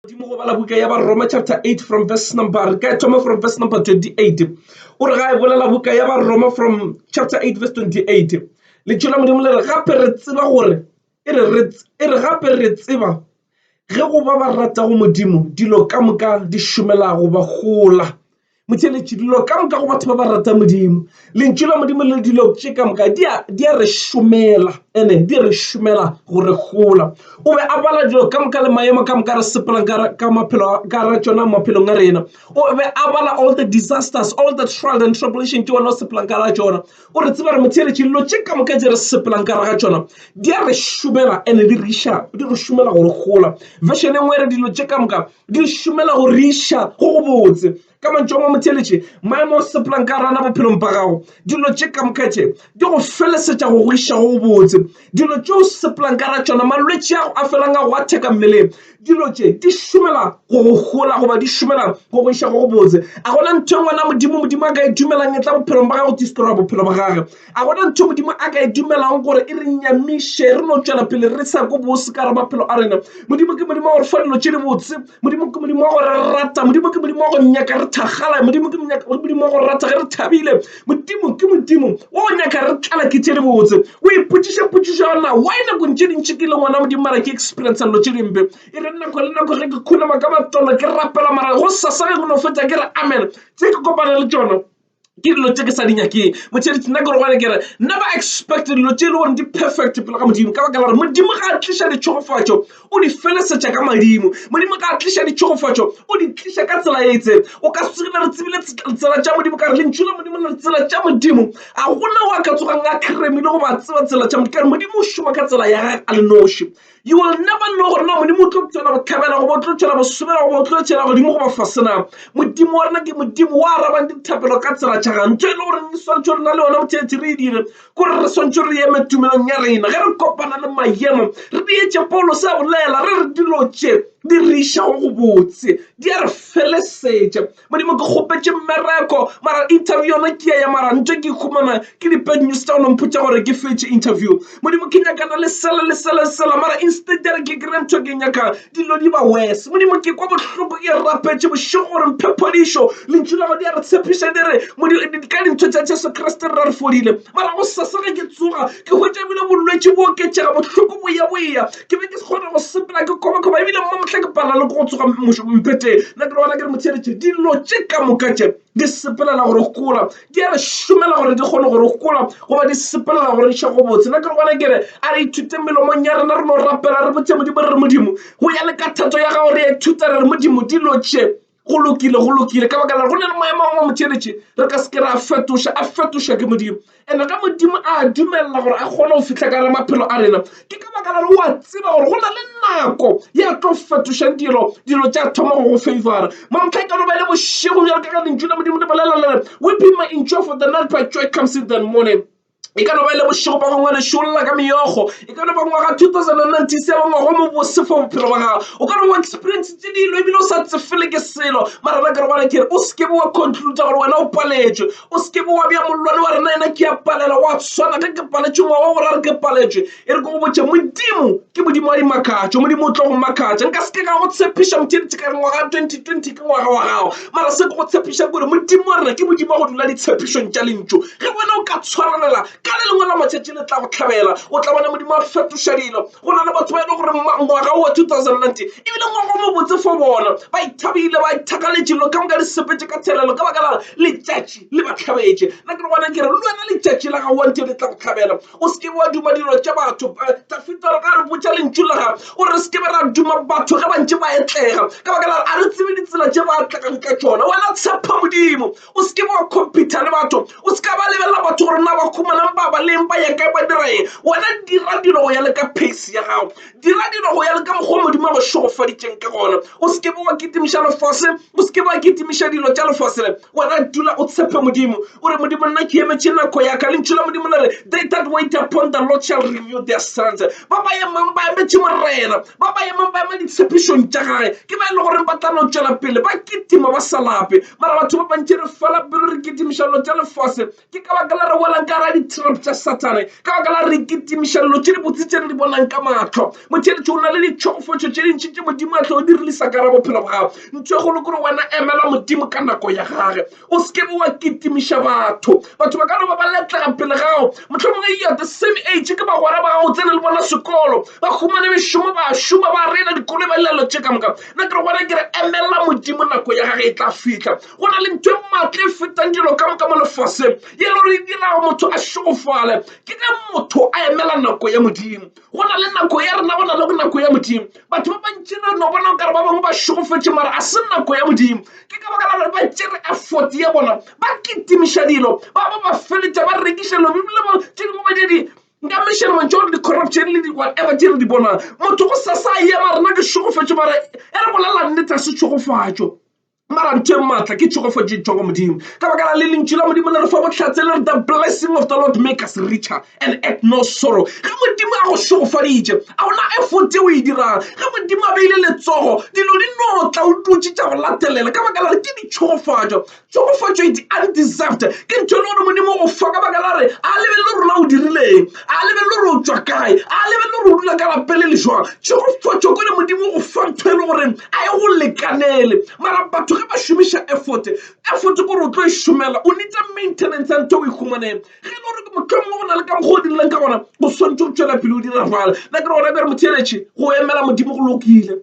godimo go bala buka ya baroma chapter 8 from verse number re ka thoma from verse number 28 o re ga e bolela buka ya baroma from chapter 8 verse 28 letšo la modimo le re gape re tseba gore e re gape re tseba ge go ba ba ratago modimo dilo ka moka di šomelago ba gola Motheeletši, Dilo ka moka go batho ba ba ratang Modimo, Lentšu la Modimo le dilo tše ka moka di a re šomela, ene di re šomela go re gola. O be a bala dilo ka moka le maemo ka moka re sepelang ka maphelo ka ra tšona maphelong a rena. O be a bala all the disasters, all the trials and tribulation tše wena o sepelang ka ra tšona. O re tseba re motheeletši dilo tše ka moka tše re sepelang ka ra tšona di a re šomela ene di re iša di re šomela go re gola. Version e nngwe e re dilo tše ka moka di šomela go riša go go botse ka mantšu a mamotheletše maemo o sepelang ka rana bophelong ba gago dilo tše ka mokatše di go felesetša go go iša go go botse dilo tše o sepelang ka ra tšona malwetši ago a felang a go a theka mmeleng dilo tše di šomela go go gola goba di šomela go go iša go go botse a gona ntho e ngwana modimo modimo a ka e dumelang e tla bophelong ba gago tistora bophelo ba gage A go na ntho Modimo a ka e dumelago gore e re nyamiše re no tšwela pele re sa ko bose ka re maphelo a rena? Modimo ke Modimo wa gore fa dilo tše di botse. Modimo ke Modimo wa gore re rata. Modimo ke Modimo wa go nyaka re thakgala. Modimo ke Modimo wa go rata ge re thabile. Modimo ke Modimo wa go nyaka re tlala ke tše di botse. O ipotšiša potšišo ya na why nakong tše dintši ke le ngwana Modimo mara ke experience dilo tše dimpe. E re nako le nako ge ke khunama ka matolo ke rapela mara go sasa ge go no fetsa ke re amen tse ke kopana le tšona ke dilo tše ke sa di nyakeng motšheletši nna ke rogane ke re never expect dilo tše e le gore di perfect pele ga modimo ka baka la gore modimo ga a tliša ditšhogofatšo o di felesetša ka madimo modimo ga a tliša ditšhogofatšo o di tliša ka tsela e itseng o ka se re tsebile tsela tša modimo ka re lentšu la modimo le tsela tša modimo a gona o a ka tsogang a kremile go ba tseba tsela tša modimo ka re modimo o šoma ka tsela ya gage a le noši You will never know gore na modimo o tlo tšwela go tlhabela goba o tlo tšwela go sobela goba o tlo tšwela godimo goba fasena modimo wa rena ke modimo wa arabang dithapelo ka tsela tšhagang ntho e le gore re swantšhe re na le yona mothethe re e dire kore re swantšhe re eme tumelong ya rena ge re kopana le maemo re di etše paulo se a bolela re re dilo tše di re išago go botse di a re felesetša Modimo ke kgopetše mmereko mara interview yona ke ya ya mara ntho ke ikhumana ke di bad news tsa go nompotša gore ke fetše interview Modimo ke nyakana le sela le sela le sela mara instead ya re ke kry ntho ke nyakang dilo di ba worse Modimo ke kwa bohloko ke rapetše bošego gore mphe phodišo lentšu lago di a re tshepiša di re ka dintho tša Jesu Kriste re ra re fodile mara go sasega ke tsoga ke hwetša ebile bolwetši bo oketšega bohloko boya boya ke be ke se kgone go sepela ke kgobakgoba ebile mma mohla ke palela le ko go tsoga mpheteng nna ke bona ke re motheeletše dilo tše ka moka tše di sepelela gore gola di a re šomela gore di kgone gore gola goba di sepelela gore ša go botse nna ke re bona ke re a re ithute melomong ya rena re no rapela re botse modimo re re modimo go ya le ka thato ya gago re a ithuta re re modimo dilo tše go lokile go lokile ka baka la go na le maemo a mangwe motšheletše re ka se ke ra fetoša a fetošwa ke modimo ene ka modimo a dumelela gore a kgone go fitlha ka re maphelo a rena ke ka baka la re oa tseba gore go na le nako ya tlo fetošang dilo dilo tša thoma go go favora mamtlha e ka loba e le bošego bjalo ka ka lentšu la modimo le bolela lere weeping may endure for the night but joy comes in the morning e ka no ba e le bošego ba gongwe lešolla ka meyogo e ka no ba ngwaga 2097 ngwago mo bose for bophelo ba gago o ka no ba experience tse dilo ebile o sa tsefele ke selo mara na ka re bana kere o seke wa conclude gore wena o paletšwe o seke wa bja mollwane wa rena ena ke ya palela wa tshwana ge ke paletšwe ngwaga o borare ke paletšwe E re ke go botše, Modimo ke Modimo wa dimakatšo, Modimo o tlo go makatša. Nka se ke ka go tshepiša motšeditše ka re ngwaga 2020 ke ngwaga wa gago, mara se ke go tshepišang kore Modimo wa rena ke Modimo wa go dula ditshepišong tša lentšu. Ge wena o ka tshwarelela ka le lengwe la matšatši le tla go tlhabela, o tla bona Modimo a fetoša dilo. Go na le batho ba e le gore ngwaga wo wa 2019 ebile ngwaga o mobotse fo bona, ba ithabile ba ithakaletše lo ka moka di sepetše ka thelelo ka baka la letšatši le ba tlhabetše. Nna ke re gona ke re le wena letšatši la gago wa ntho le tla go tlhabela. O se ke be wa duma dilo tša batho. Dafida o re ka re botša lentšu la gagwe o re se ke be ra duma batho ge ba ntše ba etlega ka baka la gore a re tsebe ditsela tše ba tlegang ka tšona wena tshepha modimo o se ke be wa competa le batho o se ka ba lebelela batho gore na ba khumanang ba ba leng ba ya kae ba dira eng wena dira dilo go ya le ka pace ya gago Dira dilo go ya le ka mokgwa Modimo a go šogofaditšeng ka gona. O se ke be wa kitimiša lefase, o se ke be wa kitimiša dilo tša lefase le. Wena dula o tshepe Modimo, o re, Modimo, nna ke emetše nako ya ka. Lentšu la Modimo le re, They that wait upon the Lord shall renew their strength. Ba ba emang ba emetše Morena, ba ba emang ba ema ditshepišong tša gage, ke ba e le goreng ba tla no tšwela pele ba kitima ba sa lape. Mara batho ba bantši re fela pelo re kitimiša dilo tša lefase, Ke ka baka la re welang ka gara di-trap tša Sathane, ka baka la re kitimiša dilo tše dibotse tše re di bonang ka mahlo. Motheeletši o na le ditšhogofetšo tše dintši tše Modimo a tlo o di releasa ka gara bophelo bwa gago. Ntho e kgolo ke gore wena emela Modimo ka nako ya gage, o se ke be wa kitimiša batho. Batho ba ka no ba ba letlega pele ga gago, mohlomongwe you are the same age, ke bagwera ba gago, o tsene le bona sekolo, ba humane mešomo, ba a šoma, ba reila dikoloi, ba dira dilo tše ka moka. Nna ke re go wena, ke re emela Modimo, nako ya gage e tla fihla. go na le ntho e maatla e fetang dilo ka moka mo lefaseng ye le gore e dirago motho a šogofale ke ge motho a emela nako ya modimo go na le nako ya rena go na le go nako ya modimo batho ba bantši re no bona kare ba bangwe ba šogofetše mara a se nako ya modimo ke ka baka la gore ba tšere effort ya bona ba kitimiša dilo ba ba ba feletša ba rekiša dilo bibele ba tše dingwe ba di nka mešhelo mantšho gore di-corruption le di-whatever tše re di bonang motho go sa sa yema rena ke šogofetše mara e re bolelang nnete a se tšhogofatšo mara ntho e maatla ke tšhogofatšo e tšwa go modimo ka baka la le lentšu la modimo le re fa bohlatse le re the blessing of the lord make us richer and at no sorrow ge modimo a go šogofaditše a gona efote o e dirang ge modimo a beile letsogo dilo di no tla o dutše tša go latelela ka baka la re ke ditšhogofatšo tšhogofatšo e di undeserved ke ntho e le gore modimo o fa ka baka la re a lebelele rona o dirileng A lebelele gore o tšwa kae. A lebelele gore o dula ka lapeng le le jwang. Tšegofotšo ko le Modimo o go fa ntho e le goreng a e go lekanele. Mara batho ge ba šomiša effort, effort ke gore o tlo e šomela. O need-a maintenance ya ntho e o e humaneng. Ge e le gore mohlomongwe go na le ka mokgwa o dirileng ka gona, o swantšwe go tšwela pele o dira bjalo. Nna ke re gona bjale motho e retše go emela Modimo go lokile.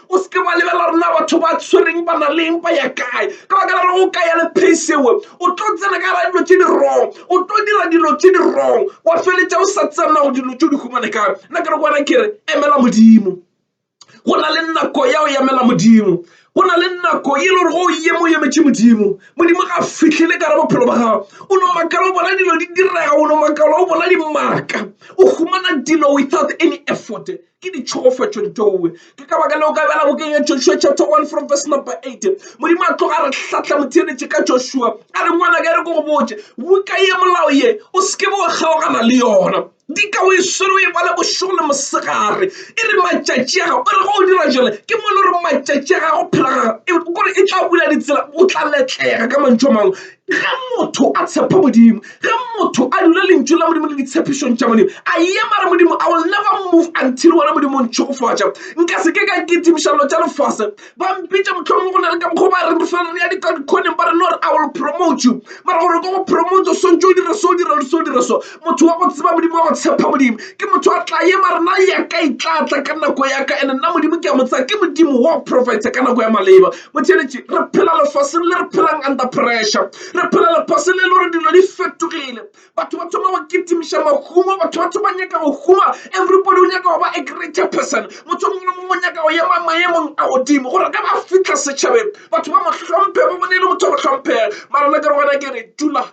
o se ke wa lebelela rena batho ba tshwereng ba na leng ba ya kae ka baka la gore o ka ya le pace ewe o tlo tsena ka gara dilo tse di wrong o tlo dira dilo tse di wrong wa feletša o sa tsena go dilo tse di humane kae nna ke re go wena ke re emela modimo go na le nako ya go emela modimo go na le nako e le gore go ye mo emetše modimo modimo ga fitlhele ka re bophelo ba gago o no makala o bona dilo di direga o no makala o bona dimaka o humana dilo without any effort ke ditšhogofatšo ditowe ke ka baka leo ka bjala bokeng ya joshua chapter 1 from verse number 8 modimo a tloga a re hlatla motheeletše ka joshua a re ngwanaka e re ko go botse buka ye molao ye o seke bo kgaogana le yona di ka o e swere o e bale bošego le mosegare e re matšatši a gago e re go o dira jale ke mone gore matšatši a gago phela gago e, gore e tla bula ditsela o tla letlega ka mantšho a mangwe Ge motho a tshepa Modimo, ge motho a dula lentšu la Modimo le ditshepišong tša Modimo, a ye mare Modimo, I will never move until wena Modimo o ntšhogofatša. Nka se ke ka kitimiša dilo tša lefase. Ba mpitša mohlomongwe go na le ka mokgwa ba re re fela re ya dikadikhoneng ba re no re I will promote you. Mara gore ke go promote o swantše o dire so, o dire so, o dire so. ke motho wa go tseba Modimo, wa go tshepa Modimo. Ke motho a tla ema re na ya ka e tla tla ka nako ya ka ene nna Modimo ke a mo tsaya ke Modimo wa profeta ka nako ya maleba. Motheeletši, re phela lefaseng le re phelang under pressure. Re phela lefaseng le le gore dilo di fetogile. Batho ba thoma go kitimiša mahumo, batho ba thoma nyaka go huma. Everybody o nyaka go ba a greater person. Motho mongwe le mongwe o nyaka go ema maemong a godimo gore ge ba fitlha setšhabeng batho ba mo hlomphe, ba bone e le motho wa go hlomphega. Mara nna ke re go wena ke re dula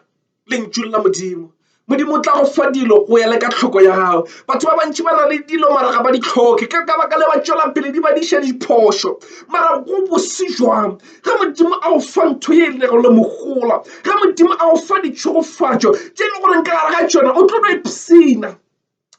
Lentšu la Modimo. Modimo o tla go fa dilo go ya le ka tlhoko ya gago. Batho ba bantši ba na le dilo mara ga ba di tlhoke ka ka baka le ba tšwela pele di badiša diphošo. Mara go bose jwang ge Modimo a go fa ntho ye e lego le mogola, ge Modimo a go fa ditšhogofatšo tše e le goreng ka gare ga tšona o tlo no ipshina.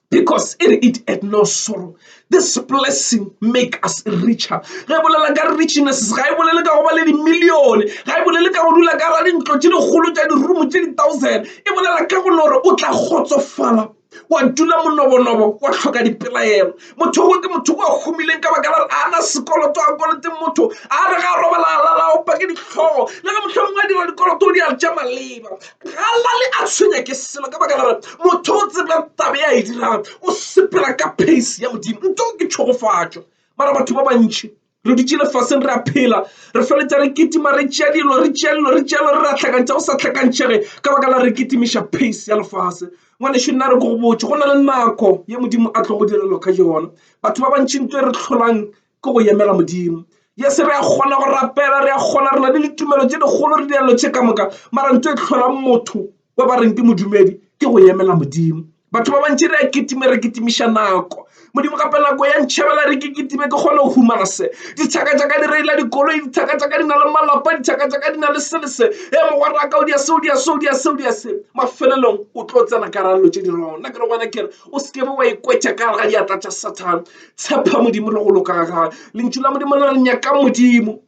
because e re it at no sorrow this blessing make us richer ge e bolela ka richness ga e bolele ka go ba le dimillione ga e bolele ka go dula ka ra dintlo tše dikgolo tša dirumo tše di-thousand e bolela ka gone gore o tla kgotsofala wa dula monobonobo wa tlhoka dipelaelo motho o ke motho o humileng ka baka la re ana sekoloto a koloteng motho a re ga robalala la opa ke ditlhogo le ge mohlomongwe a dira dikoloto o di a ja maleba Galali a tshwenya ke selo ka baka la gore motho o tseba tabe ya e dirago o sepela ka pace ya modimo nto ke tšhogofatšo mara batho ba bantši re dutše lefaseng re a phela re feletša re kitima re tšea dilo re tšea dilo re tšea dilo re re a tlhakantšha go sa tlhakantšhege ka baka la re kitimiša pace ya lefase ngwaneso nna re ko go botse go na le nako ye modimo a tlo go direlo ka yona batho ba bantši nto e re tlholang ke go emela modimo yes re a kgona go rapela re a kgona re na le ditumelo tse dikgolo re dialelo tše ka moka mara ntho e tlholang motho wa ba reng ke modumedi ke go emela modimo batho ba bantši re a kitime re kitimiša nako modimo gape nako ya ntšhabela re ke kitime ke kgone go humana se dithaka tša ka di reila dikoloi dithaka tša ka di na le malapa dithaka tša ka di na le sele se e mogwaraka o dia seo dia seo dia seo dia se mafelelong o tlo tsena karalelo tše di rona ke re gona kere o se kebe wa ikwetša ka ga diatla tša sathane Tshepa Modimo le go loka ga gage. Lentšu la Modimo le re nyaka Modimo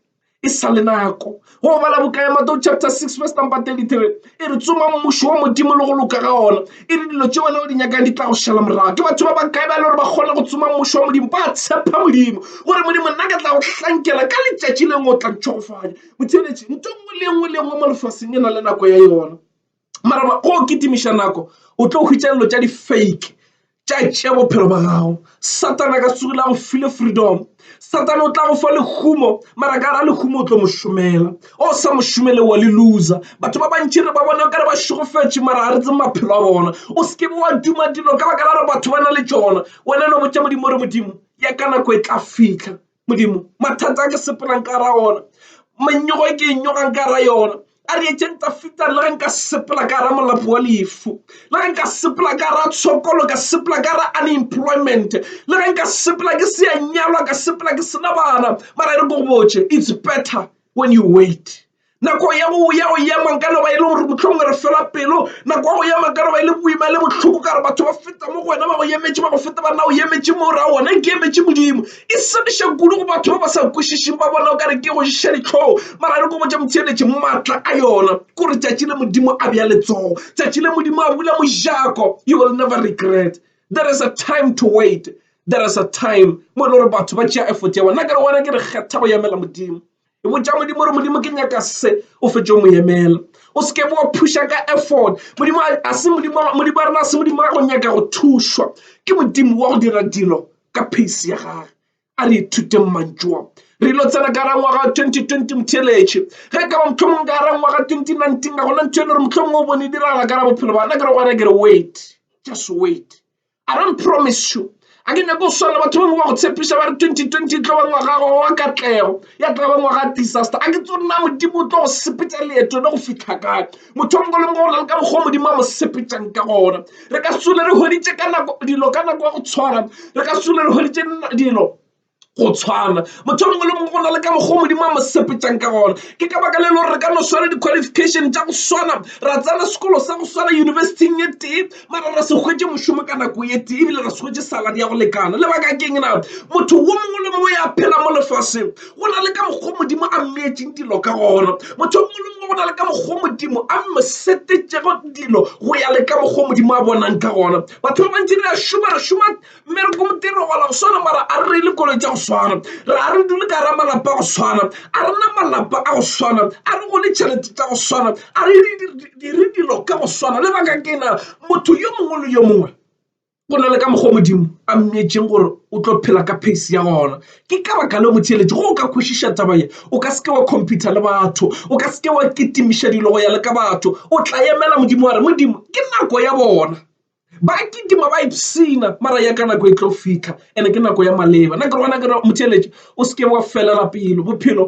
e sa le nako go bala boka ya mateo chapter 6 verse number 33 e re tsoma mmušo wa modimo le go loka ga ona e re dilo tše wena o di nyakang di tla go šala morago ke batho ba ba kae ba le gore ba kgona go tsoma mmušo wa modimo ba tshepa modimo gore modimo nna ka tla go hlankela ka letšatši leng o tla ntšhogofanya motheletši nto nngwe le nngwe le nngwe mo lefaseng e na le nako ya yona mara ba o kitimiša nako o tlo hwitša dilo tša di-fake tša tšea bophelo ba gago satana ka sego la go file freedom satana o tla go fa lehumo mara ka ra lehumo o tlo mo šomela o sa mo šomele wa le loser batho ba bantši re ba bona kare ba šegofetše mara ga re tse maphelo a bona o se ke be wa duma dilo ka baka la gore batho ba na le tšona wena no botša modimo re modimo ya ka nako e tla fitlha Modimo, mathata a ke sepelang ka ra ona, mannyogo e ke e nyogang ka ra yona, a re etšeng tafitang le ge nka sepela ka ra molapo wa lefu le ge nka sepela ka ra tshokolo ka sepela ka ra unemployment le ge nka sepela ke se ya nyalwa ka sepela ke sena bana mara e re ko go botše it's better when you wait nako ya go ya go ema nka no ba e le gore botlhongwe re fela pelo nako ya go ema nka no ba e le boima le botlhoko ka gore batho ba feta mo go wena ba go emetše ba go feta ba nna o emetše mo ra ona ke emetše modimo e sebiša kudu go batho ba ba sa kwešišeng ba bona o ka re ke go šiša ditlhogo mara re ko botša motheeletše maatla a yona ke gore tšatši le modimo a bja letsogo tšatši le modimo a bula mojako you will never regret there is a time to wait there is a time mo e le gore batho ba tšea effort ya bona ke re gona ke re kgetha go emela modimo e botša modimo gore modimo ke nyaka se o fetše mo emela o se ke wa phuša ka effort modimo a se modimo modimo a rena se modimo wa go nyaka go thušwa ke modimo wa go dira dilo ka pace ya gage a re ithuteng mantšoa re ilo tsena ka ra ngwaga 2020 motheletše ge ka ba mohlomong ka ra ngwaga 2019 ka gona ntho e le gore mohlomong o bone e diragala ka ra bophelo bana ke re gona ke re wait just wait I don't promise you ga ke nyake go swana le batho ba bangwe ba go tshepiša ba re 2020 e tlo ba ngwaga gago wa katlego ya tla ba ngwaga disaster a ke tso nna modimo o tlo go sepetša leeto le go fitlha kae motho mongwe le mongwe o na le ka mokgwa modimo a mo sepetšang ka gona re ka sole re hweditše ka nako dilo ka nako ya go tshwana re ka sole re hweditše dilo go tshwana motho mongwe le mongwe go na le ka mokgwa modimo a mo sepetšang ka gona ke ka baka le le gore re ka no swara di-qualification tša go swana ra tsena sekolo sa go swana yunibesithing e tee mara ra se hwetše mošomo ka nako e tee ebile ra se hwetše saladi ya go lekana lebaka keng na motho wo mongwe le mongwe ya phela mo lefaseng go na le ka mokgwa modimo a mmeetseng dilo ka gona motho mongwe le mongwe go na le ka mokgwa modimo a mo setetšego dilo go ya le ka mokgwa modimo a bonang ka gona batho ba bantši re a šoma re šoma mmereko modiro wa la go swana mara a re reile koloi tsa go swana re a re dule ka ra malapa a go swana a rena malapa a go swana a re gone tšhelete tsa go swana a re dire dilo ka go swana le baka ke na motho yo mongwe le yo mongwe go na le ka mokgwa modimo a mmeetseng gore o tlo phela ka pace ya gona ke ka baka le go theeletše go o ka kwešiša taba ye o ka seke wa computer le batho o ka seke wa kitimiša dilo go ya le ka batho o tla emela modimo wa re modimo ke nako ya bona Ba kitima ba ipshina mara ya ka nako e tlo fihla ene ke nako ya maleba. Nna ke gona ke re motheeletši o se ke wa felela pelo, bophelo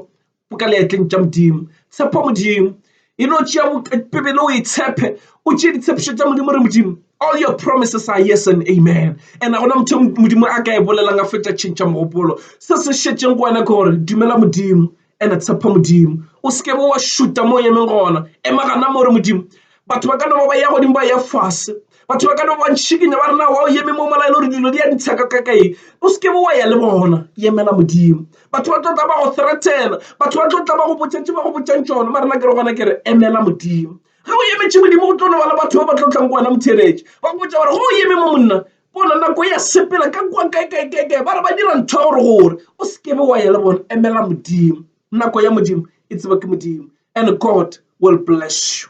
bo ka leetleng tša Modimo. Tshepa Modimo, e no tšea Bibele o e tshepe, o tšee ditshepišo tša Modimo re Modimo all your promises are yes and amen. And a gona motho Modimo a ka e bolelang a fetša tšhentšha mogopolo. Se se šetšeng go wena ke gore dumela Modimo And-e tshepa Modimo, o se ke be wa šuta mo o emeng gona. Ema gana mo re, Modimo, batho ba ka no ba ba ya godimo ba ya fase. Batho ba ka no ba ba ntšhikinya ba re na wa o eme mo mola e le gore dilo di ya ntsha ka ka ka eng. O se ke be wa ya le bona, emela Modimo. Batho ba tlo tla ba go threatena, batho ba tlo tla ba go botša tše ba go botšang tšona, mara nna ke re gona ke re emela Modimo. Ge o emetše Modimo go tlo no ba le batho ba ba tlo tlang go wena motheeletše ba go botša gore go o eme mo monna bona nako ya sepela ka kwa kaekaekaekae ba re ba dira ntho ya gore gore o se kebe wa ya le bone emela modimo nako ya modimo e tseba ke modimo and god will bless you